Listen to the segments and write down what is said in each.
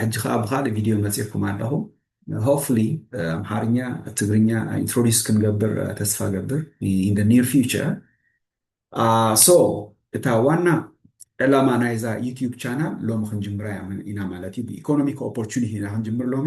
ሕጂ ከኣ ብካልእ ቪድዮ መጺእኩም ኣለኹም ሆፕፉሊ ኣምሓርኛ ትግርኛ ኢንትሮዲስ ክንገብር ተስፋ ገብር ኢን ዘ ኒር ፊውቸር ሶ እታ ዋና ዕላማ ናይዛ ዩቲዩብ ቻናል ሎሚ ክንጅምራ ኢና ማለት እዩ ብኢኮኖሚክ ኦፖርቹኒቲ ኢና ክንጅምር ሎሚ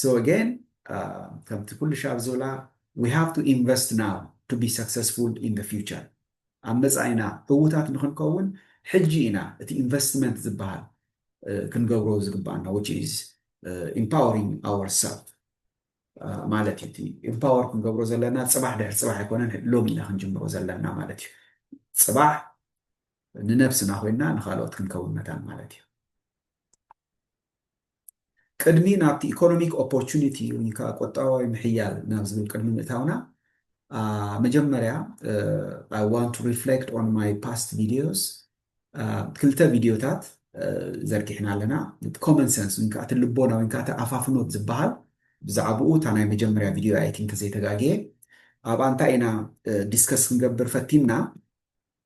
so again ከምቲ ኩልሻብ ኣብ ዝብላ we have to invest now to be successful in the future ኣብ መጻኢና ዕዉታት ንኽንከውን ሕጂ ኢና እቲ ኢንቨስትመንት ዝበሃል ክንገብሮ ዝግባኣና which is empowering ourself ማለት እዩ እቲ ኢምፓወር ክንገብሮ ዘለና ፅባሕ ድሕሪ ፅባሕ ኣይኮነን ሎሚ ኢና ክንጅምሮ ዘለና ማለት እዩ ፅባሕ ንነብስና ኮይና ንካልኦት ክንከውን መታን ማለት እዩ ቅድሚ ናብቲ ኢኮኖሚክ ኦፖርቹኒቲ ወይ ከዓ ቁጠባዊ ምሕያል ናብ ዝብል ቅድሚ ምእታውና መጀመርያ I want to reflect on my past videos ክልተ ቪድዮታት ዘርጊሕና ኣለና ኮመን ሰንስ ወይ ከዓ እቲ ልቦና ወይ ከዓ እቲ ኣፋፍኖት ዝበሃል ብዛዕባኡ እታ ናይ መጀመርያ ቪድዮ ኣይ ቲንክ ዘይተጋግየ ኣብኣ እንታይ ኢና ዲስከስ ክንገብር ፈቲንና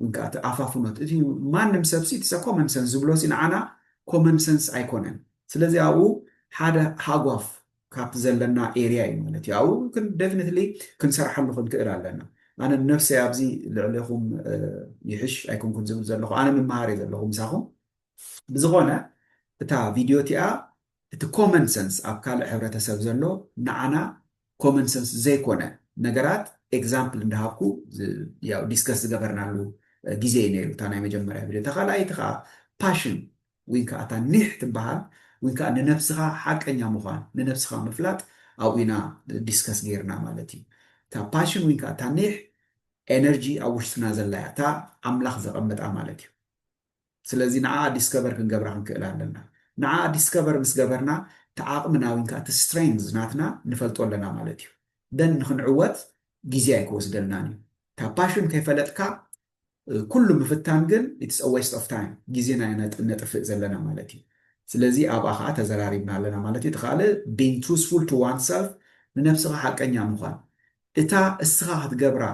ውን ከኣ እቲ ኣፋፍኖት እቲ ማንም ሰብ ሲ ኢትሰ ኮመን ሰንስ ዝብሎ ሲ ንዓና ኮመን ሰንስ ኣይኮነን ስለዚ ኣብኡ ሓደ ሃጓፍ ካብቲ ዘለና ኤርያ እዩ ማለት እዩ ኣብኡ ክን ደፍኒትሊ ክንሰርሓሉ ክንክእል ኣለና ኣነ ንነፍሰይ ኣብዚ ልዕሌኹም ይሕሽ ኣይኮንኩን ዝብል ዘለኹ ኣነ ምምሃር እየ ዘለኹ ምሳኹም ብዝኾነ እታ ቪድዮ እቲኣ እቲ ኮመን ሰንስ ኣብ ካልእ ሕብረተሰብ ዘሎ ንዓና ኮመን ሰንስ ዘይኮነ ነገራት ኤግዛምፕል እንዳሃብኩ ያው ዲስከስ ዝገበርናሉ ግዜ እዩ ነይሩ እታ ናይ መጀመርያ ቪድዮ። እታ ካልኣይቲ ከኣ ፓሽን ወይ ከኣ እታ ኒሕ ትበሃል ወይ ከኣ ንነብስኻ ሓቀኛ ምዃን ንነብስኻ ምፍላጥ ኣብኡ ኢና ዲስከስ ጌርና ማለት እዩ። እታ ፓሽን ወይ ከኣ እታ ኒሕ ኤነርጂ ኣብ ውሽጥና ዘላ እያ እታ ኣምላኽ ዘቐመጣ ማለት እዩ። ስለዚ ንዓኣ ዲስከቨር ክንገብራ ክንክእል ኣለና። ንዓኣ ዲስከቨር ምስ ገበርና እቲ ዓቕምና ወይን ከኣ እቲ ስትሬንግዝ ናትና ንፈልጦ ኣለና ማለት እዩ። then ንክንዕወት ግዜ ኣይክወስደልናን እዩ። እታ ፓሽን ከይፈለጥካ ኩሉ ምፍታን ግን ኢትስ አ ዌስት ኦፍ ታይም ግዜና ኢና ነጥፍእ ዘለና ማለት እዩ። ስለዚ ኣብኣ ከኣ ተዘራሪብና ኣለና ማለት እዩ። እቲ ካልእ being truthful to oneself ንነብስኻ ሓቀኛ ምዃን እታ እስኻ ክትገብራ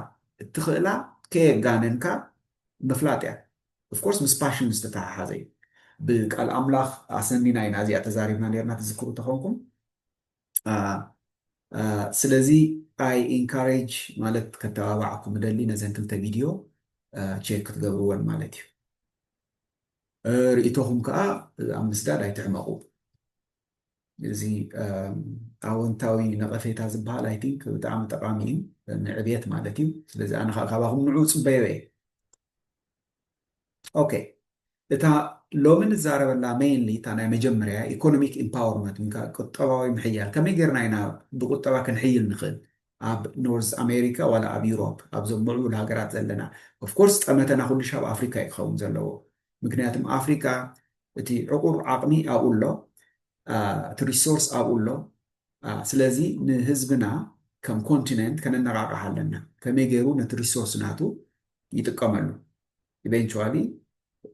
እትኽእላ ከየጋነንካ ምፍላጥ እያ። ኦፍ ኮርስ ምስ ፓሽን ዝተተሓሓዘ እዩ ብቃል ኣምላኽ ኣሰኒና ኢና እዚኣ ተዛሪብና ነርና ትዝክሩ ተኾንኩም ስለዚ ኣይ ኢንካሬጅ ማለት ከተባባዓኩም ደሊ ነዘን ክልተ ቪድዮ ቼክ ክትገብርወን ማለት እዩ ርእቶኹም ከዓ ኣብ ምስዳድ ኣይትሕመቑ እዚ ኣወንታዊ ነቐፌታ ዝበሃል ኣይ ቲንክ ብጣዕሚ ጠቃሚ እዩ ንዕብየት ማለት እዩ ስለዚ ኣነ ካባኹም ንዑ ፅበዮ እየ ኦኬ እታ ሎሚ ንዛረበላ ሜይንሊ እታ ናይ መጀመርያ ኢኮኖሚክ ኢምፓወርመንት ወይከዓ ቁጠባዊ ምሕያል ከመይ ጌርና ኢና ብቁጠባ ክንሕይል ንኽእል ኣብ ኖርዝ ኣሜሪካ ዋላ ኣብ ዩሮፕ ኣብዞም ምዕቡል ሃገራት ዘለና ኦፍኮርስ ጠመተና ኩሉሻ ኣብ ኣፍሪካ እዩ ክኸውን ዘለዎ ምክንያቱም ኣፍሪካ እቲ ዕቑር ዓቕሚ ኣብኡ ኣሎ እቲ ሪሶርስ ኣብኡ ኣሎ ስለዚ ንህዝብና ከም ኮንቲነንት ከነነቃቅሕ ኣለና ከመይ ገይሩ ነቲ ሪሶርስ ናቱ ይጥቀመሉ ኢቨንቹዋሊ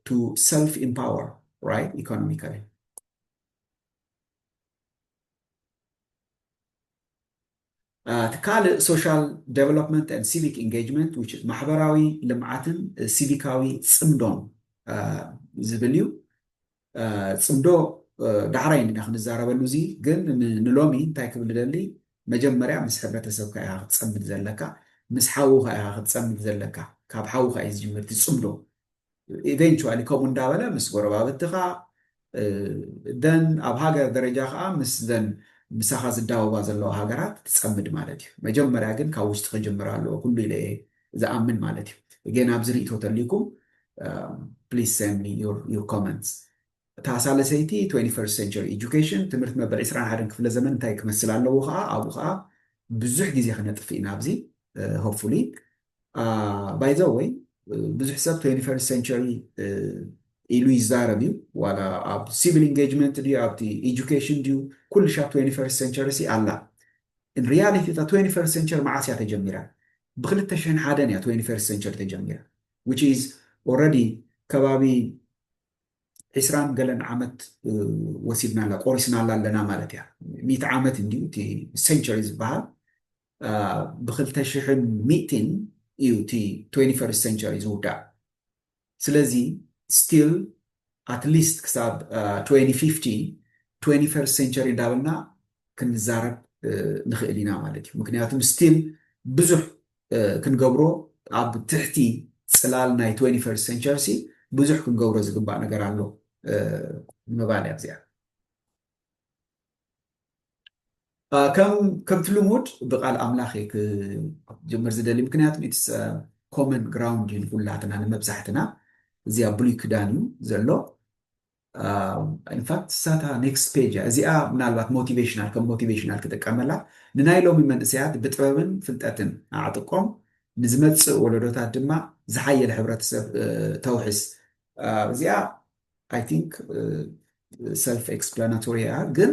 ቱ ሰልፍ ኢምፓወር ራይት ኢኮኖሚካሊ። እቲ ካልእ ሶሻል ዴቨሎፕመንት ኤንድ ሲቪክ ኢንጌጅመንት ዊች ኢዝ ማሕበራዊ ልምዓትን ሲቪካዊ ፅምዶን ዝብል እዩ። ጽምዶ ዳሕራይ እንዲና ክንዛረበሉ እዚ ግን ንሎሚ እንታይ ክብል እደሊ መጀመርያ ምስ ሕብረተሰብካ ኢኻ ክትጸምድ ዘለካ ምስ ሓውኻ ኢኻ ክትጸምድ ዘለካ ካብ ሓውኻ እዩ ዝጅምር እቲ ጽምዶ ኢቨንቹዋሊ ከምኡ እንዳበለ ምስ ጎረባብትኻ ደን ኣብ ሃገር ደረጃ ከዓ ምስ ዘን ምሳኻ ዝዳወባ ዘለዋ ሃገራት ትጸምድ ማለት እዩ መጀመርያ ግን ካብ ውሽጢ ክጅምር ኣለዎ ኩሉ ኢለ እየ ዝኣምን ማለት እዩ እጌን ኣብዚ ሪኢቶ ተልይኩም please send me your your comments እታ ሳለሰይቲ 21st century education ትምህርት መበል 21 ክፍለ ዘመን እንታይ ክመስል ኣለዎ ከዓ ኣብኡ ከዓ ብዙሕ ግዜ ክነጥፍ ኢና ኣብዚ ሆፕፉሊ ባይ ዘ ወይ ብዙሕ ሰብ 21st century ኢሉ ይዛረብ እዩ ዋላ ኣብ ሲቪል ኢንጌጅመንት ድዩ ኣብቲ ኤጁኬሽን ድዩ ኩልሻ 21st century ሲ ኣላ in reality እታ ትዌንቲ ፈርስት ሰንቸሪ መዓስ እያ ተጀሚራ ብክልተ ሽሕን ሓደን እያ ትዌንቲ ፈርስት ሰንቸሪ ተጀሚራ which is already ከባቢ ዒስራን ገለን ዓመት ወሲድናላ ቆሪስናላ ኣለና ማለት እያ ሚእቲ ዓመት እንዲዩ እቲ ሰንቸሪ ዝበሃል ብክልተ ሽሕን ሚእቲን እዩ እቲ ትዌንቲ ፈርስት ሰንቸሪ ዝውዳእ ስለዚ ስቲል ኣት ሊስት ክሳብ ትዌንቲ ፊፍቲ፣ ትዌንቲ ፈርስት ሴንቸሪ እንዳበልና ክንዛረብ ንኽእል ኢና ማለት እዩ። ምኽንያቱም ስቲል ብዙሕ ክንገብሮ ኣብ ትሕቲ ጽላል ናይ ትዌንቲ ፈርስት ሴንቸርሲ ብዙሕ ክንገብሮ ዝግባእ ነገር ኣሎ ንምባል እያ እዚኣ። ከምቲ ልሙድ ብቃል ኣምላኽ እየ ክጅምር ዝደሊ ምክንያቱ ኢትስ ኮመን ግራውንድ እዩ ንኩላትና ንመብዛሕትና እዚ ኣብ ብሉይ ክዳን እዩ ዘሎ ኢንፋክት ሳታ ኔክስት ፔጅ እያ እዚኣ ምናልባት ሞቲቬሽናል ከም ሞቲቬሽናል ክጥቀመላ ንናይ ሎሚ መንእሰያት ብጥበብን ፍልጠትን ኣዕጥቆም ንዝመፅእ ወለዶታት ድማ ዝሓየለ ሕብረተሰብ ተውሕስ እዚኣ ኣይ ቲንክ ሰልፍ ኤክስፕላናቶሪ እያ ግን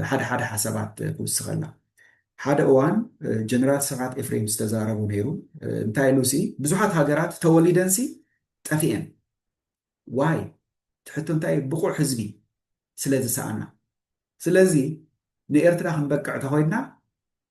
ሓደ ሓደ ሓሳባት ክውስኸላ ሓደ እዋን ጀነራል ስብሓት ኤፍሬም ዝተዛረቡ ነይሩ እንታይ ኢሉሲ ብዙሓት ሃገራት ተወሊደንሲ ጠፊኤን ዋይ ትሕቶ እንታይ ብቑዕ ህዝቢ ስለ ዝሰኣና ስለዚ ንኤርትራ ክንበቅዕ ተኮይንና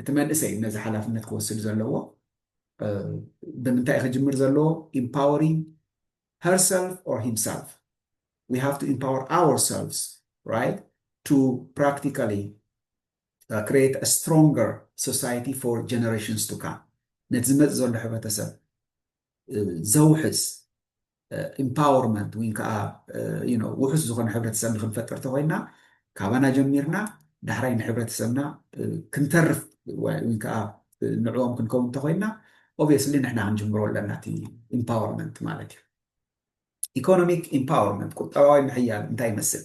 እቲ መንእሰይ ነዚ ሓላፍነት ክወስድ ዘለዎ ብምንታይ ክጅምር ዘለዎ ኢምፓወሪንግ ሄርሰልፍ ኦር ሂምሰልፍ ዊ ሃቭ ቱ ኢምፓወር ኣወርሰልቭስ ራይት ቱ ፕራክቲካሊ ክሬት አ ስትሮንገር ሶሳይቲ ፎር ጀነሬሽንስ ቱ ካም ነቲ ዝመፅእ ዘሎ ሕብረተሰብ ዘውሕስ ኢምፓወርመንት ወይ ከዓ ውሑስ ዝኾነ ሕብረተሰብ ንክንፈጥር ተኾይንና ካባና ጀሚርና ዳሕራይ ንሕብረተሰብና ክንተርፍ ወይ ከዓ ንዕኦም ክንከውን ተኾይንና ኦብየስሊ ንሕና ክንጅምሮ ኣለና እቲ ኢምፓወርመንት ማለት እዩ። ኢኮኖሚክ ኢምፓወርመንት ቁጠባዊ ምሕያል እንታይ ይመስል?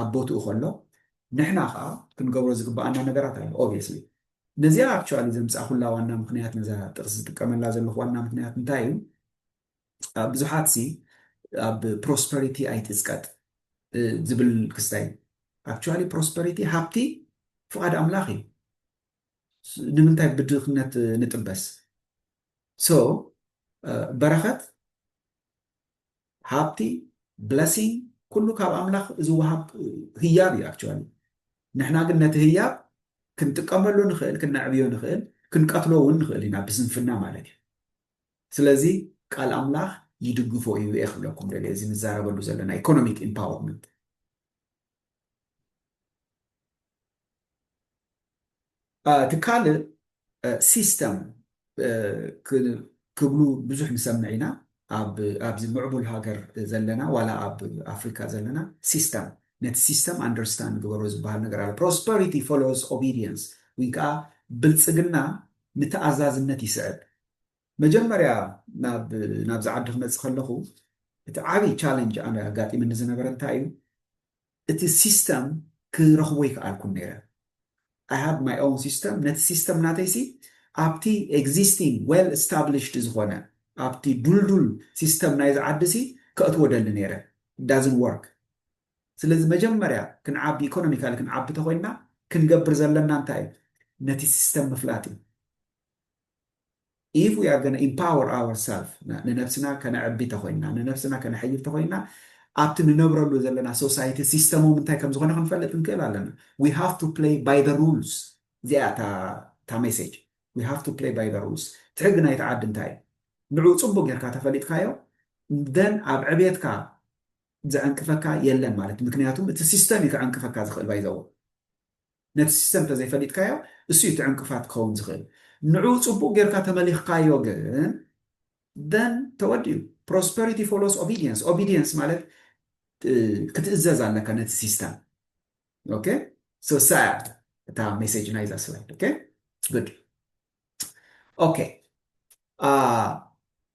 ኣብ ቦትኡ ከሎ ንሕና ከኣ ክንገብሮ ዝግበኣና ነገራት ኣሎ obviously ነዚኣ actually ዘምጻኹላ ዋና ምኽንያት ነዛ ጥቅሲ ዝጥቀመላ ዘለኹ ዋና ምኽንያት እንታይ እዩ ብዙሓት ሲ ኣብ prosperity ኣይትጽቀጥ ዝብል ክስታይ እዩ actually prosperity ሃብቲ ፍቓድ ኣምላኽ እዩ ንምንታይ ብድኽነት ንጥበስ ሶ በረኸት ሃብቲ ብለሲንግ ኩሉ ካብ ኣምላኽ ዝወሃብ ህያብ እዩ ኣክቹዋሊ ንሕና ግን ነቲ ህያብ ክንጥቀመሉ ንኽእል ክነዕብዮ ንኽእል ክንቀትሎ እውን ንኽእል ኢና ብስንፍና ማለት እዩ ስለዚ ቃል ኣምላኽ ይድግፎ እዩ እየ ክብለኩም ደልየ እዚ ንዛረበሉ ዘለና ኢኮኖሚክ ኢምፓወርመንት እቲ ካልእ ሲስተም ክብሉ ብዙሕ ንሰምዕ ኢና ኣብዚ ምዕቡል ሃገር ዘለና ዋላ ኣብ ኣፍሪካ ዘለና ሲስተም ነቲ ሲስተም ኣንደርስታንድ ግበሮ ዝበሃል ነገር ኣሎ ፕሮስፐሪቲ ፎሎውስ ኦቢድየንስ ወይ ከዓ ብልፅግና ንተኣዛዝነት ይስዕብ መጀመርያ ናብዚ ዓዲ ክመፅእ ከለኹ እቲ ዓብይ ቻለንጅ ኣነ ኣጋጢምኒ ዝነበረ እንታይ እዩ እቲ ሲስተም ክረኽቦ ኣይክኣልኩን ነይረ ኣይ ሃቭ ማይ ኦውን ሲስተም ነቲ ሲስተም ናተይሲ ኣብቲ ኤግዚስቲንግ ዌል ስታብሊሽድ ዝኾነ ኣብቲ ዱልዱል ሲስተም ናይዚ ዓዲሲ ከእትዎ ደሊ ነይረ ዳዝን ወርክ ስለዚ መጀመርያ ክንዓቢ ኢኮኖሚካሊ ክንዓቢ ተኮይንና ክንገብር ዘለና እንታይ እዩ ነቲ ሲስተም ምፍላጥ እዩ ኢፍ ዊ ኣር ጎና ኢምፓወር ኣወር ሰልፍ ንነብስና ከነዕቢ ተኾይንና ንነብስና ከነሐይል ተኾይንና ኣብቲ ንነብረሉ ዘለና ሶሳይቲ ሲስተሞም እንታይ ከም ዝኾነ ክንፈልጥ ክንክእል ኣለና ዊ ሃቭ ቱ ፕለይ ባይ ዘ ሩልስ እዚኣ እታ ሜሴጅ ዊ ሃቭ ቱ ፕለይ ባይ ዘ ሩልስ እቲ ሕጊ ናይቲ ዓዲ እንታይ እዩ ንዕኡ ፅቡቅ ጌርካ ተፈሊጥካዮ ደን ኣብ ዕብየትካ ዘዕንቅፈካ የለን ማለት ምክንያቱም እቲ ሲስተም እዩ ከዕንቅፈካ ዝኽእል ባይዘዎ ነቲ ሲስተም ተዘይፈሊጥካዮ እሱ እዩ እቲ ዕንቅፋት ክኸውን ዝኽእል ንዑኡ ጽቡቅ ጌርካ ተመሊኽካዮ ግን then ተወዲኡ prosperity follows obedience obedience ማለት ክትእዘዝ ኣለካ ነቲ ሲስተም ኦኬ so sad እታ ሜሴጅ ናይዛ ስላይድ ኦኬ good ኦኬ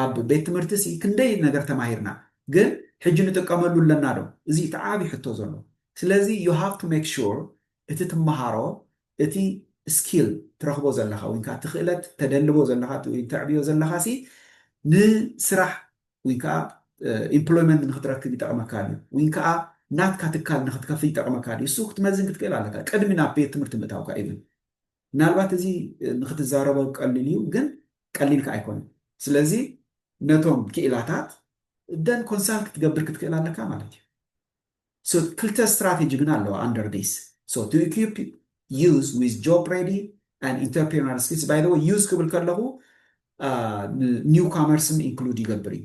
ኣብ ቤት ትምህርቲ'ሲ ክንደይ ነገር ተማሂርና ግን ሕጂ ንጥቀመሉ ኣለና ዶ? እዚ እዩ እቲ ዓቢ ሕቶ ዘሎ። ስለዚ you have to make sure እቲ ትመሃሮ እቲ skill ትረኽቦ ዘለኻ ወይንከኣ እቲ ክእለት ተደልቦ ዘለኻ ወይም ተዕብዮ ዘለኻ'ሲ ንስራሕ ወይንከኣ employment ንኽትረክብ ይጠቕመካ ድዩ ወይንከኣ ናትካ ትካል ንኽትከፍት ይጠቕመካ ድዩ እሱ ክትመዝን ክትክእል ኣለካ ቅድሚ ናብ ቤት ትምህርቲ ምእታውካ even። ምናልባት እዚ ንክትዛረቦ ቀሊል እዩ ግን ቀሊል ከኣ ኣይኮነን ስለዚ ነቶም ክኢላታት ደን ኮንሳልት ክትገብር ክትክእል ኣለካ ማለት እዩ ሶ ክልተ ስትራቴጂ ግን ኣለዋ ኣንደር ዲስ ሶ ቱ ኢኩፕ ዩዝ ዊዝ ጆብ ሬዲ ኣን ኢንተርፕሪነር ስኪልስ ባይ ዘ ወይ ዩዝ ክብል ከለኹ ኒው ካመርስን ኢንክሉድ ይገብር እዩ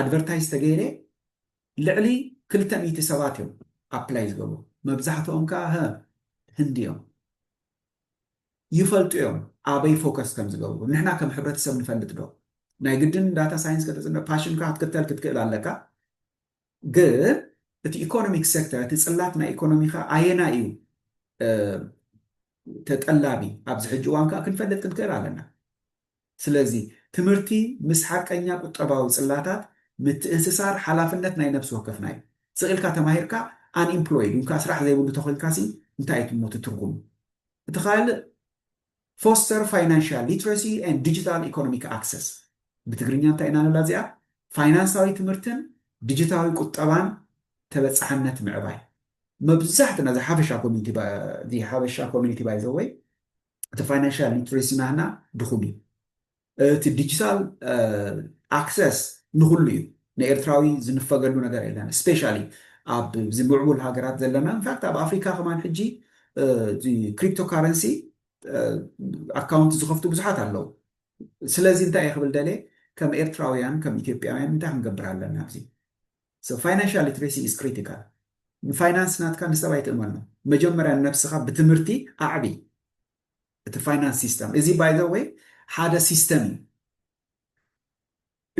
ኣድቨርታይዝ ተገይረ ልዕሊ ክልተ ሚእቲ ሰባት እዮም ኣፕላይ ዝገብሩ መብዛሕትኦም ከኣ ህ ህንዲ እዮም ይፈልጡ እዮም ኣበይ ፎከስ ከም ዝገብሩ ንሕና ከም ሕብረተሰብ ንፈልጥ ዶ ናይ ግድን ዳታ ሳይንስ ከተፅንዕ ፓሽንካ ክትክተል ክትክእል ኣለካ ግን እቲ ኢኮኖሚክ ሴክተር እቲ ፅላት ናይ ኢኮኖሚካ ኣየና እዩ ተጠላቢ ኣብዚ ሕጂ እዋን ከዓ ክንፈልጥ ክንክእል ኣለና ስለዚ፣ ትምህርቲ ምስ ሓቀኛ ቁጠባዊ ጽላታት ምትእስሳር ሓላፍነት ናይ ነብሲ ወከፍና እዩ። ስቕ ኢልካ ተማሂርካ Unemployed ዊንካ ስራሕ ዘይብሉ ተኾይንካሲ እንታይ እዩ ትሞ እቲ ትርጉም? እቲ ካልእ Foster Financial Literacy and Digital Economic Access ብትግርኛ እንታይ ኢና ንብላ እዚኣ? ፋይናንሳዊ ትምህርትን ዲጂታዊ ቁጠባን ተበጻሕነት ምዕባይ። መብዛሕትና እዚ ሓፈሻ ኮሚኒቲ እዚ ሓበሻ ኮሚኒቲ ባይ ዘ ወይ እቲ ፋይናንሻል ሊትሬሲ ናህና ድኹም እዩ። እቲ ዲጂታል ኣክሰስ ንኹሉ እዩ። ንኤርትራዊ ዝንፈገሉ ነገር የለን። ስፔሻሊ ኣብዚ ምዕቡል ሃገራት ዘለና ኢንፋክት ኣብ ኣፍሪካ ከማን ሕጂ እዚ ክሪፕቶ ካረንሲ ኣካውንት ዝኸፍቱ ብዙሓት ኣለው። ስለዚ እንታይ እየ ክብል ደልየ ከም ኤርትራውያን ከም ኢትዮጵያውያን እንታይ ክንገብር ኣለና ኣብዚ So financial literacy is critical ንፋይናንስ ናትካ ንሰብ ኣይትእመኖ መጀመርያ ንነብስካ ብትምህርቲ ኣዕቢ እቲ ፋይናንስ ሲስተም እዚ by the way ሓደ ሲስተም እዩ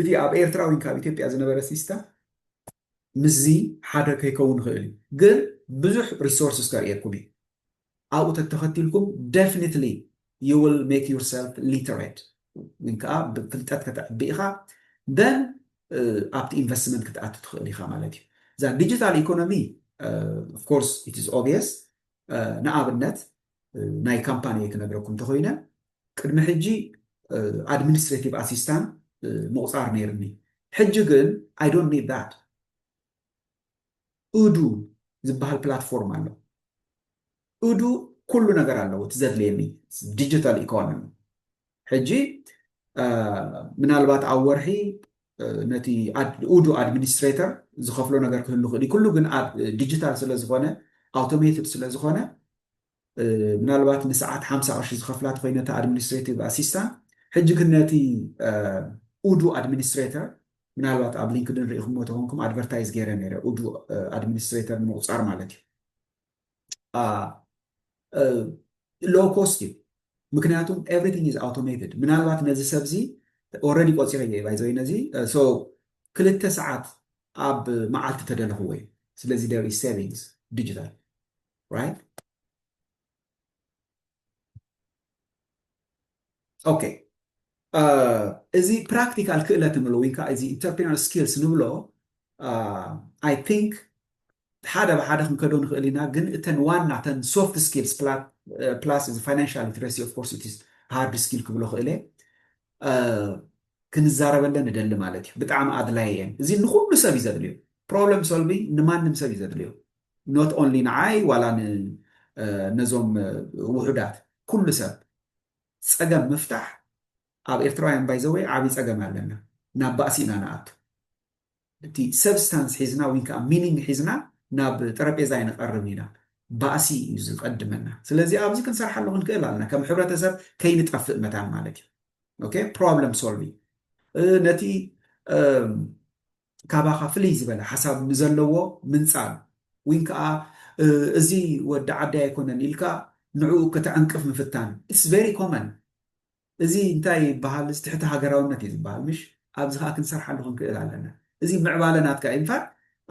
እቲ ኣብ ኤርትራ ወይ ካብ ኢትዮጵያ ዝነበረ ሲስተም ምስዚ ሓደ ከይከውን ይኽእል እዩ ግን ብዙሕ ሪሶርስስ ከርእየኩም እዩ ኣብኡ ተተኸቲልኩም ደፍኒትሊ ዩ ዊል ሜክ ዩር ሰልፍ ሊተሬት ወይ ከዓ ብፍልጠት ከተዕቢ ኢኻ then ኣብቲ ኢንቨስትመንት ክትኣቱ ትኽእል ኢኻ ማለት እዩ። እዛ ዲጂታል ኢኮኖሚ ኦፍ ኮርስ ኢት ኢዝ ኦብየስ ንኣብነት ናይ ካምፓኒየይ ክነግረኩም እንተኾይነ ቅድሚ ሕጂ ኣድሚኒስትሬቲቭ ኣሲስታንት ምቑፃር ነይርኒ ሕጂ ግን ኣይ ዶንት ኒድ ዛት እዱ ዝበሃል ፕላትፎርም ኣሎ። እዱ ኩሉ ነገር ኣለዎ እቲ ዘድልየኒ ዲጂታል ኢኮኖሚ ሕጂ ምናልባት ኣብ ወርሒ ነቲ እዱ ኣድሚኒስትሬተር ዝኸፍሎ ነገር ክህሉ ይኽእል እዩ ኩሉ ግን ኣብ ዲጂታል ስለዝኾነ ኣውቶሜትድ ስለዝኾነ ምናልባት ንሰዓት ሓምሳ ቅርሺ ዝኸፍላ ተኾይነ እታ ኣድሚኒስትሬቲቭ ኣሲስታን ሕጂ ግን ነቲ ኡዱ ኣድሚኒስትሬተር ምናልባት ኣብ ሊንክድን ርኢኹሞ ተኾንኩም ኣድቨርታይዝ ገይረ ነይረ ኡዱ ኣድሚኒስትሬተር ንምቑፃር ማለት እዩ ሎው ኮስት እዩ ምክንያቱ ኤቭሪቲንግ ኢዝ ኣውቶሜትድ ምናልባት ነዚ ሰብዚ ኦረዲ ቆፂረዮ እዩ ባይዘወይ ነዚ ሶ ክልተ ሰዓት ኣብ መዓልቲ ተደለኽዎ እዩ ስለዚ ደር ኢዝ ሴቪንግስ ዲጂታል right? ኦኬ እዚ ፕራክቲካል ክእለት ንብሎ ወይ ከዓ እዚ ኢንተርፕሪነር ስኪልስ ንብሎ ኣይ ቲንክ ሓደ ብሓደ ክንከዶ ንኽእል ኢና ግን እተን ዋና ተን ሶፍት ስኪልስ ፕላስ እዚ ፋይናንሻል ሊትረሲ ኦፍ ኮርስ ኢትስ ሃርድ ስኪል ክብሎ ክእለ ክንዛረበለን ንደሊ ማለት እዩ ብጣዕሚ ኣድላይ እየን እዚ ንኩሉ ሰብ እዩ ዘድልዮ ፕሮብለም ሶልቪንግ ንማንም ሰብ እዩ ዘድልዮ ኖት ኦንሊ ንዓይ ዋላ ነዞም ውሑዳት ኩሉ ሰብ ጸገም ምፍታሕ ኣብ ኤርትራውያን ባይ ዘ ወይ ዓቢ ጸገም ኣለና ናብ ባእሲ ኢና ንኣቱ እቲ ሰብስታንስ ሒዝና ዊን ከኣ ሚኒንግ ሒዝና ናብ ጠረጴዛ ኣይንቀርብን ኢና ባእሲ እዩ ዝቀድመና ስለዚ ኣብዚ ክንሰርሓሉ ክንክእል ኣለና ከም ሕብረተሰብ ከይንጠፍእ መታን ማለት እዩ ኦኬ ፕሮብለም ሶልቪንግ ነቲ ካባኻ ፍልይ ዝበለ ሓሳብ ንዘለዎ ምንጻል ዊን ከኣ እዚ ወዲ ዓደይ ኣይኮነን ኢልካ ንዕኡ ከተዕንቅፍ ምፍታን ኢትስ ቨሪ ኮመን እዚ እንታይ ይበሃል እዚ ትሕቲ ሃገራውነት እዩ ዝበሃል ምሽ ኣብዚ ከኣ ክንሰርሓሉ ክንክእል ኣለና እዚ ምዕባለ ናትካ እዩ እንፋት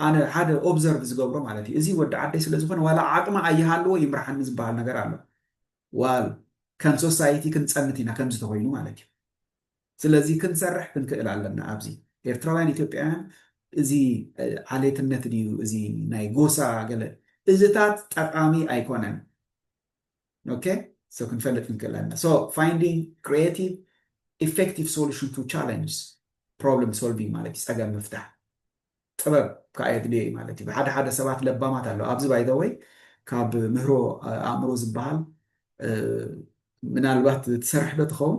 ኣነ ሓደ ኦብዘርቭ ዝገብሮ ማለት እዩ እዚ ወዲ ዓደይ ስለ ዝኾነ ዋላ ዓቅሚ ኣይሃልዎ ይምርሓኒ ዝበሃል ነገር ኣሎ ዋል ከም ሶሳይቲ ክንጸንት ኢና ከምዚ ተኾይኑ ማለት እዩ ስለዚ ክንሰርሕ ክንክእል ኣለና ኣብዚ ኤርትራውያን ኢትዮጵያውያን እዚ ዓሌትነት ድዩ እዚ ናይ ጎሳ ገለ እዝታት ጠቃሚ ኣይኮነን ኦኬ ሶ ክንፈልጥ ክንክእል ኣለና ሶ ፋይንዲንግ ክሪኤቲቭ ኢፌክቲቭ ሶሉሽን ቱ ቻለንጅስ ፕሮብለም ሶልቪንግ ማለት እዩ ጸገም ምፍታሕ ጥበብ ከኣ የድልዮ እዩ ማለት እዩ። ብሓደ ሓደ ሰባት ለባማት ኣለዉ። ኣብዚ ባይ ዘ ወይ ካብ ምህሮ ኣእምሮ ዝበሃል ምናልባት ትሰርሕ ዶ ትኸውን?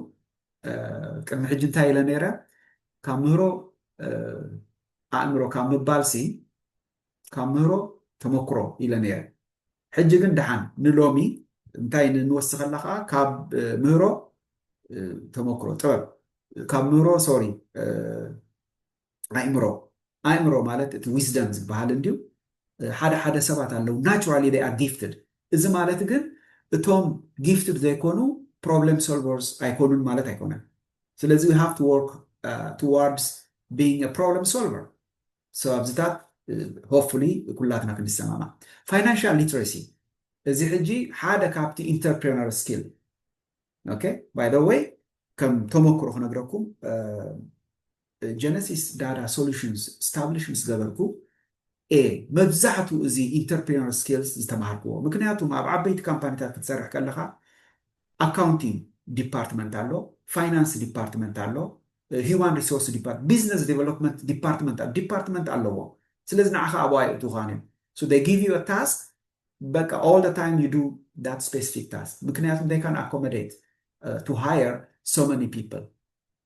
ቅድሚ ሕጂ እንታይ ኢለ ነይረ? ካብ ምህሮ ኣእምሮ ካብ ምባልሲ ካብ ምህሮ ተመክሮ ኢለ ነይረ። ሕጂ ግን ደሓን ንሎሚ እንታይ ንወስኸላ ከኣ ካብ ምህሮ ተመክሮ ጥበብ ካብ ምህሮ ሶሪ ኣእምሮ ኣእምሮ ማለት እቲ ዊዝደም ዝበሃል እንድዩ ሓደ ሓደ ሰባት ኣለው ናቹራሊ ዴይ ኣር ጊፍትድ እዚ ማለት ግን እቶም ጊፍትድ ዘይኮኑ ፕሮብለም ሶልቨርስ ኣይኮኑን ማለት ኣይኮነን ስለዚ ዊ ሃቭ ቱ ወርክ ቱዋርድስ ቢንግ አ ፕሮብለም ሶልቨር ሰው ኣብዚታት ሆፕፉሊ ኩላትና ክንሰማማዕ ፋይናንሻል ሊትሬሲ እዚ ሕጂ ሓደ ካብቲ ኢንተርፕረነር ስኪል ኦኬ ባይ ዘ ወይ ከም ተመክሮ ክነግረኩም ጀነሲስ ዳዳ ሶሉሽንስ ስታብሊሽ ምስ ገበርኩ እየ መብዛሕትኡ እዚ ኢንተርፕሪነር ስኪልስ ዝተምሃርክዎ። ምክንያቱም ኣብ ዓበይቲ ካምፓኒታት ክትሰርሕ ከለኻ ኣካውንቲንግ ዲፓርትመንት ኣሎ፣ ፋይናንስ ዲፓርትመንት ኣሎ፣ ሂዩማን ሪሶርስ ዲፓርትመንት፣ ቢዝነስ ዴቨሎፕመንት ዲፓርትመንት ኣሎ፣ ዲፓርትመንት ኣለዎም። ስለዚ ንዓኻ ኣብኡ ኣየእትውኻን እዮም። ሶ ዜይ ጊቭ ዩ አ ታስክ በቃ ኦል ዘ ታይም ዩ ዱ ዳት ስፔሲፊክ ታስክ ምክንያቱም ዜይ ካን ኣኮመዴት ቱ ሃየር ሶ መኒ ፒፕል።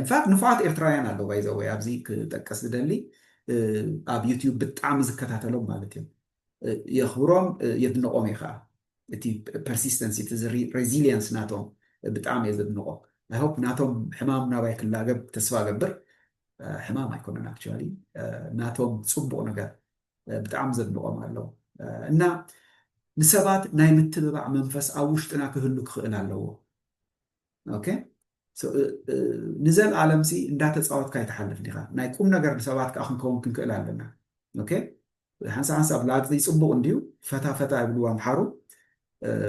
ኢንፋክት ንፉዓት ኤርትራውያን ኣለዉ ባይ ዘ ወይ ኣብዚ ክጠቅስ ዝደሊ ኣብ ዩቱብ ብጣዕሚ ዝከታተሎም ማለት እዮም የኽብሮም የድንቖም እየ ከዓ እቲ ፐርሲስተንሲ እቲ ሬዚሊየንስ ናቶም ብጣዕሚ እየ ዘድንቖ ኣይ ሆፕ ናቶም ሕማም ናባይ ክላገብ ተስፋ እገብር ሕማም ኣይኮነን ኣክቹዋሊ ናቶም ፅቡቕ ነገር ብጣዕሚ ዘድንቖም ኣለዉ እና ንሰባት ናይ ምትብባዕ መንፈስ ኣብ ውሽጥና ክህሉ ክኽእል ኣለዎ ኦኬ ንዘልኣለም ሲ እንዳተፃወትካ ኣይትሓልፍ ዲኻ ናይ ቁም ነገር ንሰባት ከዓ ክንከውን ክንክእል ኣለና ኦኬ ሓንሳ ሓንሳብ ላግፂ ፅቡቅ እንድዩ ፈታ ፈታ ይብልዎ ኣምሓሩ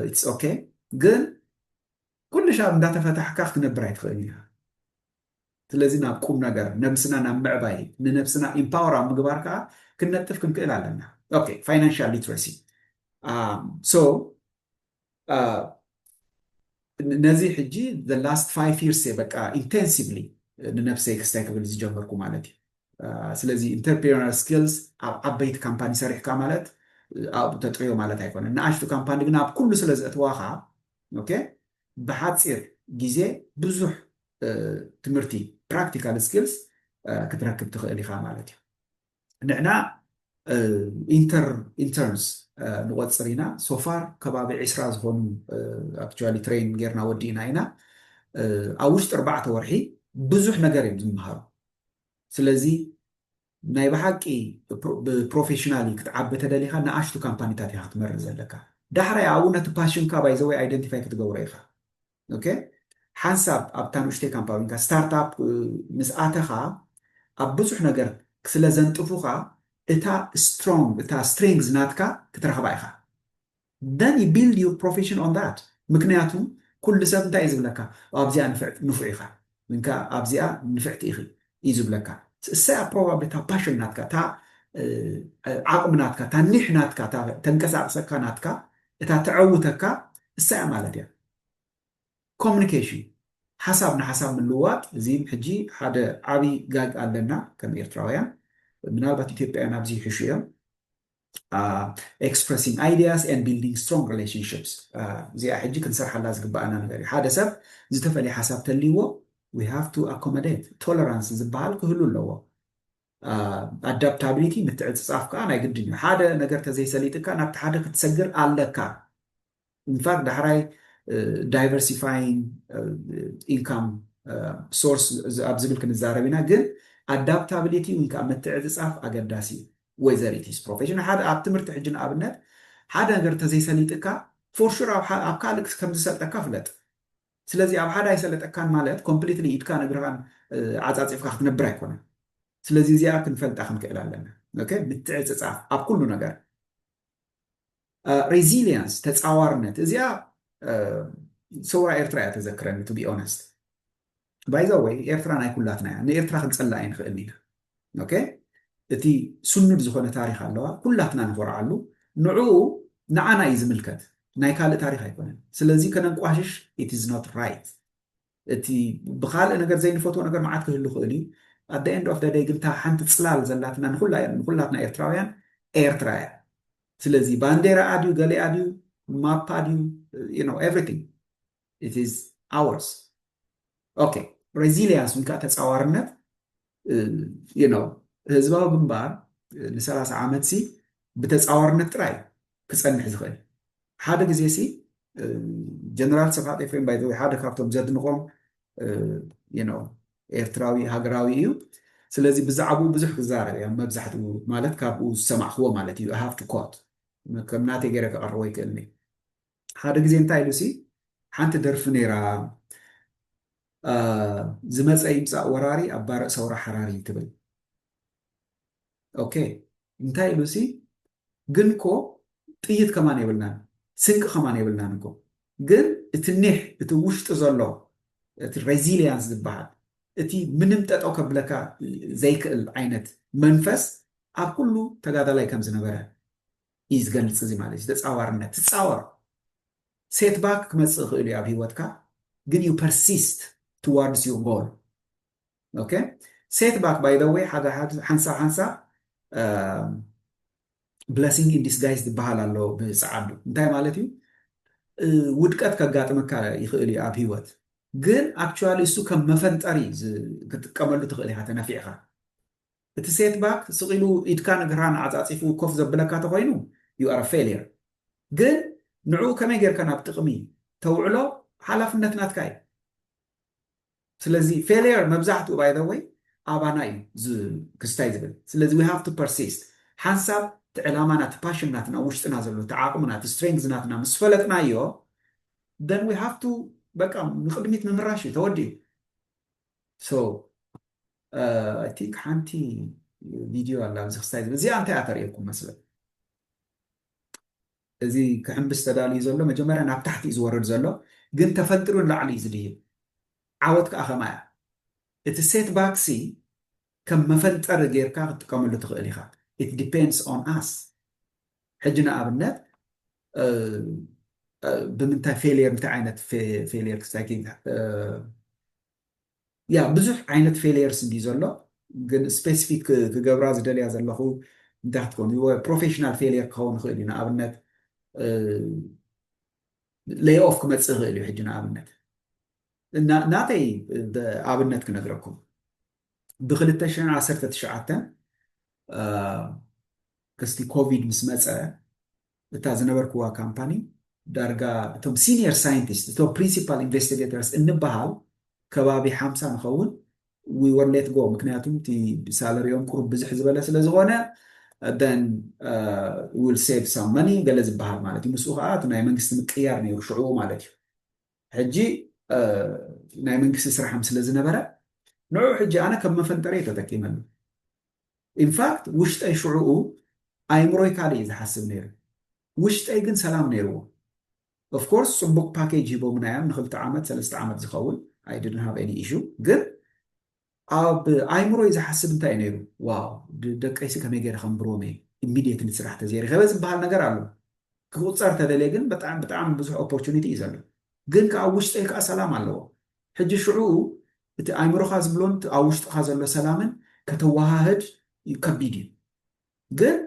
ኢትስ ኦኬ ግን ኩሉ ሻብ እንዳተፈታሕካ ክትነብር ኣይትኽእል ኢኻ ስለዚ ናብ ቁም ነገር ነብስና ናብ ምዕባይ ንነብስና ኢምፓወር ኣብ ምግባር ከዓ ክንነጥፍ ክንክእል ኣለና ኦኬ ፋይናንሻል ሊትረሲ ሶ ነዚ ሕጂ the last five years እየ በቃ ኢንቴንሲቭሊ ንነብሰይ ክስታይ ክብል ዝጀመርኩ ማለት እዩ። ስለዚ ኢንተርፕሪነር ስኪልስ ኣብ ዓበይቲ ካምፓኒ ሰሪሕካ ማለት ኣብኡ ተጥርዮ ማለት ኣይኮነን። ንኣሽቱ ካምፓኒ ግን ኣብ ኩሉ ስለ ዘእትዋኻ ኦኬ ብሓፂር ግዜ ብዙሕ ትምህርቲ ፕራክቲካል ስኪልስ ክትረክብ ትኽእል ኢኻ ማለት እዩ። ንሕና ኢንተርንስ ንቆፅር ኢና ሶፋር ከባቢ ዕስራ ዝኾኑ ኣክቹዋሊ ትሬን ጌርና ወዲእና ኢና ኣብ ውሽጢ ኣርባዕተ ወርሒ ብዙሕ ነገር እዮም ዝምሃሩ ስለዚ ናይ ብሓቂ ብፕሮፌሽናሊ ክትዓቢ ተደሊኻ ንኣሽቱ ካምፓኒታት ኢኻ ክትመርእ ዘለካ ዳሕራይ ኣብኡ ነቲ ፓሽንካ ባይዘወይ ኣይደንቲፋይ ክትገብሮ ኢኻ ኦኬ ሓንሳብ ኣብታ ንእሽተይ ካምፓዊንካ ስታርታፕ ምስ ኣተኻ ኣብ ብዙሕ ነገር ስለ ዘንጥፉኻ እታ ስትሮንግ እታ ስትሪንግዝ ናትካ ክትረኽባ ኢኻ then you build your profession on that ምክንያቱ ኩሉ ሰብ እንታይ እዩ ዝብለካ ኣብዚኣ ንፍዕ ንፉዕ ኢኻ ግን ከኣ ኣብዚኣ ንፍዕቲ ኢኺ እዩ ዝብለካ እሰይ ኣብ ፕሮባብሊ እታ ፓሽን ናትካ እታ ዓቕሚ ናትካ እታ ኒሕ ናትካ እታ ተንቀሳቕሰካ ናትካ እታ ተዐውተካ እሳ እያ ማለት እያ ኮሚኒኬሽን ሓሳብ ንሓሳብ ምልዋጥ እዚም ሕጂ ሓደ ዓብይ ጋግ ኣለና ከም ኤርትራውያን ምናልባት ኢትዮጵያውያን ኣብዚ ይሕሹ እዮም ኤክስፕረሲንግ ኣይድያስ ኤንድ ቢልዲንግ ስትሮንግ ሪሌሽንሽፕስ እዚኣ ሕጂ ክንሰርሓላ ዝግበኣና ነገር እዩ። ሓደ ሰብ ዝተፈልየ ሓሳብ ተልይዎ ዊ ሃቭ ቱ ኣኮመዴት ቶለራንስ ዝበሃል ክህሉ ኣለዎ። ኣዳፕታብሊቲ ምትዕፅፃፍ ከዓ ናይ ግድን እዩ። ሓደ ነገር ተዘይሰሊጥካ ናብቲ ሓደ ክትሰግር ኣለካ። ኢንፋክት ዳሕራይ ዳይቨርሲፋይንግ ኢንካም ሶርስ ኣብ ዝብል ክንዛረብ ኢና ግን ኣዳፕታብሊቲ ወይ ከዓ ምትዕፅፃፍ ኣገዳሲ እዩ ወይዘሪት ስ ፕሮፌሽን ሓደ ኣብ ትምህርቲ ሕጂ ንኣብነት ሓደ ነገር ተዘይሰሊጥካ ፎርሹር ኣብ ካልእ ከምዝሰልጠካ ፍለጥ ስለዚ ኣብ ሓደ ኣይሰለጠካን ማለት ኮምፕሊትሊ ኢድካን እግርኻን ዓፃፂፍካ ክትነብር ኣይኮነን ስለዚ እዚኣ ክንፈልጣ ክንክእል ኣለና ምትዕፅፃፍ ኣብ ኩሉ ነገር ሬዚልያንስ ተፃዋርነት እዚኣ ሰውራ ኤርትራ እያ ተዘክረኒ ቱ ቢ ኦነስት ባይዛ ወይ ኤርትራ ናይ ኩላትና እያ ንኤርትራ ክንፀላ ኣይንኽእልን ኢና ኦኬ እቲ ስኑድ ዝኾነ ታሪክ ኣለዋ ኩላትና ንኾርዓሉ ንዕኡ ንዓና እዩ ዝምልከት ናይ ካልእ ታሪክ ኣይኮነን ስለዚ ከነንቋሽሽ ኢት ኢዝ ኖት ራይት እቲ ብኻልእ ነገር ዘይንፈትዎ ነገር መዓት ክህሉ ይኽእል እዩ at the end of the day ግን እታ ሓንቲ ጽላል ዘላትና ንኹላ ንኹላትና ኤርትራውያን ኤርትራ እያ ስለዚ ባንዴራኣ ድዩ ገሊኣ ድዩ ማፓ ድዩ you know everything it is ours ኦኬ ሬዚሊያንስ ወይ ከዓ ተጻዋርነት ህዝባዊ ግንባር ንሰላሳ ዓመት ሲ ብተፃዋርነት ጥራይ ክፀንሕ ዝኽእል ሓደ ግዜ ሲ ጀነራል ሰብሓት ኤፍሬም ባይዘወ ሓደ ካብቶም ዘድንቆም ኤርትራዊ ሃገራዊ እዩ ስለዚ ብዛዕባኡ ብዙሕ ክዛረብ እያ መብዛሕትኡ ማለት ካብኡ ዝሰማዕክዎ ማለት እዩ ሃፍቱ ኮት ከም ናተይ ገይረ ከቐርቦ ይክእል ሓደ ግዜ እንታይ ኢሉ ሲ ሓንቲ ደርፊ ነይራ ዝመፀ ይምፃእ ወራሪ ኣብ ባርዕ ሰውራ ሓራሪ ትብል ኦኬ እንታይ ኢሉ ሲ ግን እኮ ጥይት ከማን የብልናን ስንቂ ከማን የብልናን እኮ ግን እቲ ኒሕ እቲ ውሽጢ ዘሎ እቲ ሬዚሊያንስ ዝበሃል እቲ ምንም ጠጠው ከብለካ ዘይክእል ዓይነት መንፈስ ኣብ ኩሉ ተጋዳላይ ከም ዝነበረ እዩ ዝገልጽ እዚ ማለት እዩ ተጻዋርነት ትጻወር ሴት ባክ ክመጽእ ይኽእል እዩ ኣብ ሂወትካ ግን ዩ ፐርሲስት ቱዋርድስ ዩ ጎል ኦኬ ሴት ባክ ባይ ዘ ወይ ሓንሳብ ሓንሳብ ብለሲንግ ኢን ዲስጋይዝ ዝበሃል ኣሎ ብጸዓዱ እንታይ ማለት እዩ ውድቀት ከጋጥመካ ይኽእል እዩ ኣብ ሂወት ግን ኣክቹዋሊ እሱ ከም መፈንጠሪ ክትጥቀመሉ ትኽእል ኢኻ ተነፊዕኻ እቲ ሴትባክ ስቕ ኢሉ ኢድካን እግርሃን ዓጻጺፉ ኮፍ ዘብለካ ተኾይኑ you are a failure ግን ንዕኡ ከመይ ጌርካ ናብ ጥቕሚ ተውዕሎ ሓላፍነት ናትካ እዩ ስለዚ failure መብዛሕትኡ by the way ኣባና እዩ ክስታይ ዝብል ስለዚ we have to persist ሓንሳብ እቲ ዕላማና እቲ ፓሽን ናትና ኣብ ውሽጥና ዘሎ እቲ ዓቕምና እቲ strength ናትና ምስ ፈለጥናዮ then we have to በቃ ንቕድሚት ምምራሽ እዩ ተወዲኡ። ሶ ኣይ ቲንክ ሓንቲ ቪድዮ ኣላ ኣብዚ ክስታይ ዝብል እዚኣ እንታይ እያ ተርእየኩም መስለ እዚ ክሕምብስ ተዳልዩ ዘሎ መጀመርያ ናብ ታሕቲ እዩ ዝወርድ ዘሎ ግን ተፈንጢሩ ንላዕሊ እዩ ዝድይብ ዓወት ከዓ ከማ እያ እቲ ሴት ባክሲ ከም መፈንጠሪ ጌርካ ክትጥቀመሉ ትኽእል ኢኻ ኢት ዲፔንድስ ኦን ኣስ ሕጂ ንኣብነት ብምንታይ ፌልየር እንታይ ዓይነት ፌልየር ክስታይ ያ ብዙሕ ዓይነት ፌልየርስ እንዲ ዘሎ ግን ስፔሲፊክ ክገብራ ዝደልያ ዘለኹ እንታይ ክትከውን ፕሮፌሽናል ፌልየር ክኸውን ይኽእል እዩ ንኣብነት ለይ ኦፍ ክመፅእ ይኽእል እዩ ሕጂ ንኣብነት ናተይ ኣብነት ክነግረኩም ብ219 ክስቲ ኮቪድ ምስ መጸ እታ ዝነበርክዋ ካምፓኒ ዳርጋ እቶም ሲኒየር ሳይንቲስት እቶም ፕሪንሲፓል ኢንቨስቲገተርስ እንበሃል ከባቢ ሓምሳ ንኸውን ዊ ወር ሌት ጎ ምክንያቱ እቲ ሳለሪኦም ቁሩብ ብዝሕ ዝበለ ስለ ዝኾነ then uh, will save some money ገለ ዝበሃል ማለት እዩ ምስኡ ከዓ እቲ ናይ መንግስቲ ምቅያር ነይሩ ሽዑ ማለት እዩ ሕጂ ናይ መንግስቲ ስራሕም ስለ ዝነበረ ንዑ ሕጂ ኣነ ከም መፈንጠሪ ተጠቂመሉ ኢንፋክት ውሽጠይ ሽዑኡ ኣይምሮይ ካልእ እዩ ዝሓስብ ነይሩ ውሽጠይ ግን ሰላም ነይርዎ ኦፍኮርስ ጽቡቅ ፓኬጅ ሂቦምና እዮም ንክልተ ዓመት ሰለስተ ዓመት ዝኸውን ኣይ ዲድንት ሃቭ ኤኒ ኢሹ ግን ኣብ ኣይምሮይ ዝሓስብ እንታይ እዩ ነይሩ ዋው ደቀይሲ ከመይ ገይረ ከምብርዎም እየ ኢሚድየትሊ ስራሕ ተዘይረኸበ ዝበሃል ነገር ኣሎ ክቁጸር ተደልየ ግን ብጣዕሚ ብጣዕሚ ብዙሕ ኦፖርቹኒቲ እዩ ዘሎ ግን ከዓ ውሽጠይ ከዓ ሰላም ኣለዎ ሕጂ ሽዑኡ እቲ ኣእምሮኻ ዝብሎን እቲ ኣብ ውሽጥኻ ዘሎ ሰላምን ከተወሃህድ ከቢድ እዩ ግን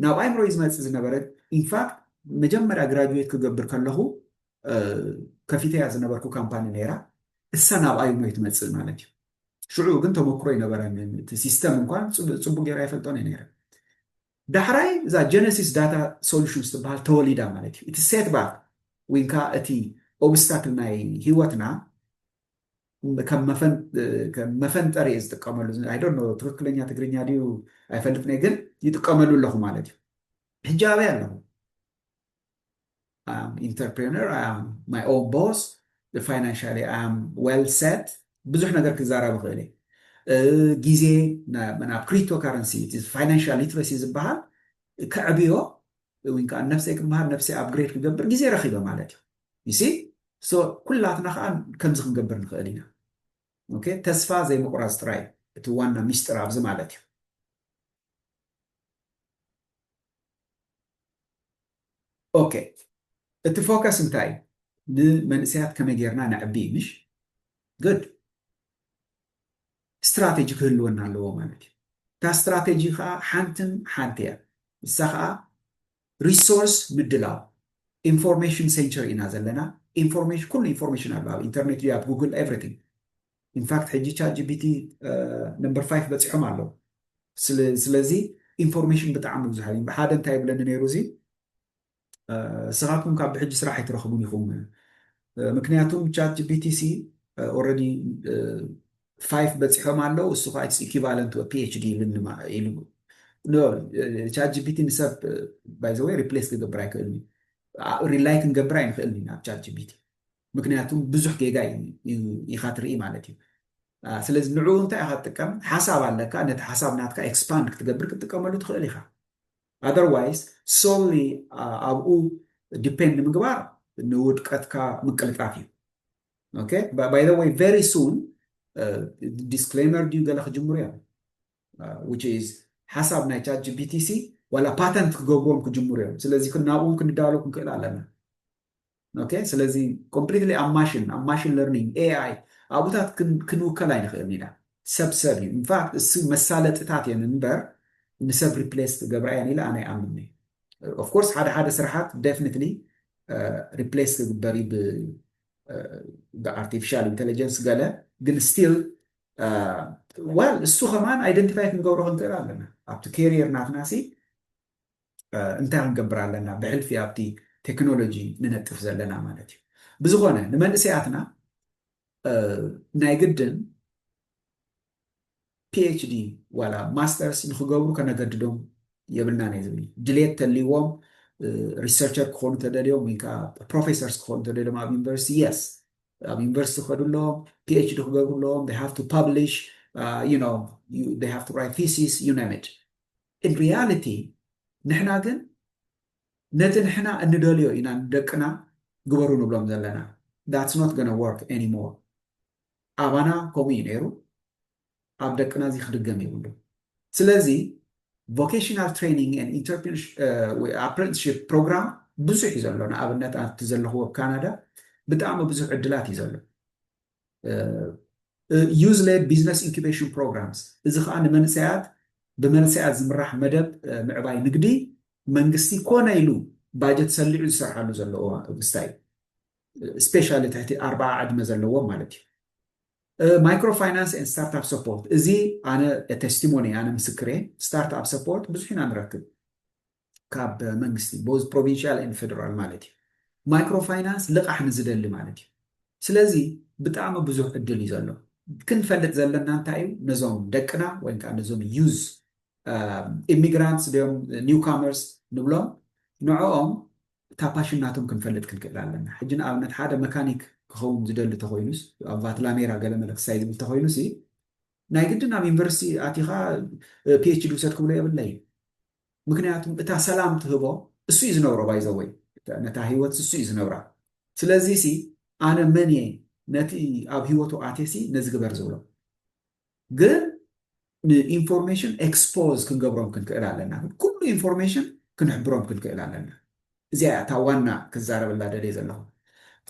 ናብ ኣእምሮይ ዝመጽእ ዝነበረ ኢንፋክት መጀመርያ ግራጁዌት ክገብር ከለኹ ከፊተያ ዝነበርኩ ካምፓኒ ነይራ እሳ ናብ ኣእምሮይ ትመጽእ ማለት እዩ ሽዑ ግን ተመክሮ ይነበረን እቲ ሲስተም እንኳን ጽቡቅ ጌራ ይፈልጦን ነይረ ዳሕራይ እዛ ጀነሲስ ዳታ ሶሉሽንስ ትበሃል ተወሊዳ ማለት እዩ እቲ ሴትባክ ወይንካ እቲ ኦብስታክል ናይ ሂወትና ከም መፈንጠር እየ ዝጥቀመሉ I don't know ትክክለኛ ትግርኛ ድዩ ኣይፈልጥን'የ ግን ይጥቀመሉ ኣለኹ ማለት እዩ ሕጂ ኣበይ ኣለኹ I am entrepreneur I am my own boss financially I am well set ብዙሕ ነገር ክዛረብ እኽእል እየ ግዜ ናብ ክሪፕቶ ካረንሲ ፋይናንሻል ሊትረሲ ዝበሃል ከዕብዮ ዊን ከኣ ነፍሰይ ክመሃር ነፍሰይ ኣፕግሬድ ክገብር ግዜ ረኺበ ማለት እዩ ዩ ሲ ሶ ኩላትና ከኣ ከምዚ ክንገብር ንኽእል ኢና ኦኬ ተስፋ ዘይምቑራጽ ጥራይ እዩ እቲ ዋና ሚስጥር ኣብዚ ማለት እዩ ኦኬ እቲ ፎከስ እንታይ እዩ ንመንእሰያት ከመይ ጌርና ነዕቢ ምሽ ግድ ስትራተጂ ክህልወና ኣለዎ ማለት እዩ። እታ ስትራተጂ ከኣ ሓንትን ሓንቲ እያ። ንሳ ከኣ ሪሶርስ ምድላው፣ ኢንፎርሜሽን ሴንቸሪ ኢና ዘለና፣ ኢንፎርሜሽን ኩሉ ኢንፎርሜሽን ኣሎ ኣብ ኢንተርኔት ድዩ ኣብ ጉግል ኤቭሪቲንግ ኢንፋክት ሕጂ ቻት ጂፒቲ ነምበር ፋይፍ በጺሖም ኣለዉ ስለ ስለዚ ኢንፎርሜሽን ብጣዕሚ ብዙሕ እዩ። ብሓደ እንታይ ይብለኒ ነይሩ እዚ እስኻትኩም ካብ ብሕጂ ስራሕ ኣይትረኽቡን ኢኹም ምክንያቱም ቻት ጂፒቲ ሲ ኦረዲ ፋይፍ በጺሖም ኣለው እሱ ከኣ ኢትስ ኢኪቫለንት ወ ፒኤችዲ ኢሉ ኖ ቻት ጂፒቲ ንሰብ ባይ ዘ ወይ ሪፕሌስ ክገብር ኣይክእልን እዩ ሪላይ ክንገብር ኣይንኽእልን ኢና ኣብ ቻት ጂፒቲ ምክንያቱም ብዙሕ ጌጋ ኢኻ ትርኢ ማለት እዩ ስለዚ ንዕኡ እንታይ ኢኻ ትጥቀም ሓሳብ ኣለካ ነቲ ሓሳብ ናትካ ኤክስፓንድ ክትገብር ክትጥቀመሉ ትኽእል ኢኻ ኣዘርዋይስ ሶሊ ኣብኡ ዲፔንድ ምግባር ንውድቀትካ ምቅልጣፍ እዩ ኦኬ ባይ ዘ ወይ ቨሪ ሱን ዲስክሌመር ድዩ ገለ ክጅምሩ እዮም ዊች ኢዝ ሓሳብ ናይ ቻት ጂፒቲሲ ዋላ ፓተንት ክገብርዎም ክጅምሩ እዮም ስለዚ ናብኡ ክንዳሉ ክንክእል ኣለና ኦኬ ስለዚ ኮምፕሊትሊ ኣብ ማሽን ኣብ ማሽን ለርኒንግ ኤኣይ ኣብኡታት ክንውከል ኣይንኽእልን ኢና ሰብ ሰብ እዩ ኢንፋክት እሱ መሳለጥታት እየን እምበር ንሰብ ሪፕሌስ ክገብራ እየን ኢለ ኣነ ይኣምን እየ ኦፍኮርስ ሓደ ሓደ ስራሓት ደፍኒትሊ ሪፕሌስ ክግበር እዩ ብኣርቲፊሻል ኢንቴሊጀንስ ገለ ግን ስቲል ዋል እሱ ከማን ኣይደንቲፋይ ክንገብሮ ክንክእል ኣለና ኣብቲ ኬሪየር ናትና ሲ እንታይ ክንገብር ኣለና ብሕልፊ ኣብቲ ቴክኖሎጂ ንነጥፍ ዘለና ማለት እዩ። ብዝኾነ ንመንእሰያትና ናይ ግድን ፒኤችዲ ዋላ ማስተርስ ንክገብሩ ከነገድዶም የብልናን እየ ዝብል ድሌት ተልዎም ሪሰርቸር ክኾኑ ተደልዮም ወይ ከዓ ፕሮፌሰርስ ክኾኑ ተደልዮም ኣብ ዩኒቨርሲቲ የስ ኣብ ዩኒቨርሲቲ ክኸዱ ኣለዎም ፒኤችዲ ክገብሩ ኣለዎም ሃቭ ቱ ፐብሊሽ ሃቭ ቱ ራይት ቲሲስ ዩ ኔም ኢት in reality ንሕና ግን ነቲ ንሕና እንደልዮ ኢና ንደቅና ግበሩ ንብሎም ዘለና that's not gonna work anymore ኣባና ከምኡ እዩ ነይሩ ኣብ ደቅና እዚ ክድገም የብሉ ስለዚ ቮኬሽናል ትሬኒንግ ን ኣፕረንትሽፕ ፕሮግራም ብዙሕ እዩ ዘሎ ንኣብነት ኣብቲ ዘለኹዎ ካናዳ ብጣዕሚ ብዙሕ ዕድላት እዩ ዘሎ ዩዝ ሌድ ቢዝነስ ኢንኩቤሽን ፕሮግራምስ እዚ ከዓ ንመንእሰያት ብመንእሰያት ዝምራሕ መደብ ምዕባይ ንግዲ መንግስቲ ኮነ ኢሉ ባጀት ሰሊዑ ዝሰርሓሉ ዘሎ ምስታይ እዩ ስፔሻሊ ትሕቲ ኣርባዓ ዕድመ ዘለዎም ማለት እዩ ማይክሮ ፋይናንስ ን ስታርትፕ ሰፖርት እዚ ኣነ ቴስቲሞኒ ኣነ ምስክር እየ ስታርትፕ ሰፖርት ብዙሕ ኢና ንረክብ ካብ መንግስቲ ቦዝ ፕሮቪንሽያል ኤንድ ፌደራል ማለት እዩ ማይክሮ ፋይናንስ ልቓሕ ንዝደሊ ማለት እዩ ስለዚ ብጣዕሚ ብዙሕ ዕድል እዩ ዘሎ ክንፈልጥ ዘለና እንታይ እዩ ነዞም ደቅና ወይ ከዓ ነዞም ዩዝ ኢሚግራንትስ ድዮም ኒውካመርስ ንብሎም ንዕኦም እታ ፓሽን ናቶም ክንፈልጥ ክንክእል ኣለና ሕጂ ንኣብነት ሓደ መካኒክ ክኸውን ዝደሊ ተኮይኑስ ኣብ ቫትላሜራ ገለመለ ክሳይ ዝብል ተኮይኑስ ናይ ግድን ኣብ ዩኒቨርሲቲ ኣቲኻ ፒኤችዲ ውሰድ ክብሎ የብለይ ምክንያቱም እታ ሰላም ትህቦ እሱ እዩ ዝነብሮ ባይዘወይ ነታ ሂወት ስሱ እዩ ዝነብራ ስለዚ ሲ ኣነ መን እየ ነቲ ኣብ ሂወቱ ኣቴ ሲ ነዚ ግበር ዝብሎ ግን ንኢንፎርሜሽን ኤክስፖዝ ክንገብሮም ክንክእል ኣለና ኩሉ ኢንፎርሜሽን ክንሕብሮም ክንክእል ኣለና እዚኣ እያ እታ ዋና ክዛረበላ ደልየ ዘለኹ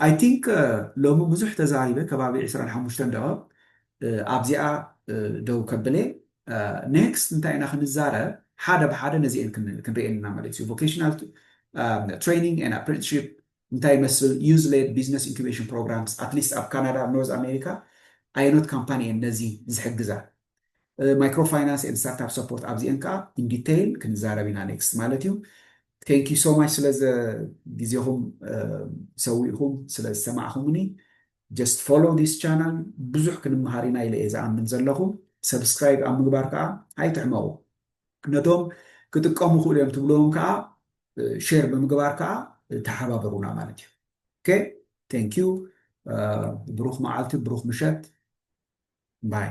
ኣይ ቲንክ ሎሚ ብዙሕ ተዛሪበ ከባቢ ዕስራን ሓሙሽተን ደቐቕ ኣብዚኣ ደው ከብለ ኔክስት እንታይ ኢና ክንዛረብ ሓደ ብሓደ ነዚኤን ክንሪኤን ኢና ማለት እዩ ቮኬሽናል ትሬኒንግ ኤን ኣፕረንትሺፕ እንታይ ይመስል ዩዝ ሌድ ቢዝነስ ኢንኩቤሽን ፕሮግራምስ ኣትሊስት ኣብ ካናዳ ኣብ ኖርዝ ኣሜሪካ ኣየኖት ካምፓኒ እየን ነዚ ዝሕግዛ ማይክሮ ፋይናንስ ኤን ስታርታፕ ሰፖርት ኣብዚኤን ከዓ ኢን ዲቴይል ክንዛረብ ኢና ኔክስት ማለት እዩ Thank you so much ስለ ግዜኹም ሰዊእኹም ስለ ዝሰማዕኹምኒ just follow this channel ብዙሕ ክንመሃር ኢና ኢለ እየ ዝኣምን ዘለኹ subscribe ኣብ ምግባር ከዓ ኣይትሕመቑ ነቶም ክጥቀሙ ክእሉ እዮም ትብልዎም ከዓ ሼር ብምግባር ከዓ ተሓባበሩና ማለት እዩ ኦኬ ቴንክ ዩ ብሩኽ መዓልቲ ብሩኽ ምሸት ባይ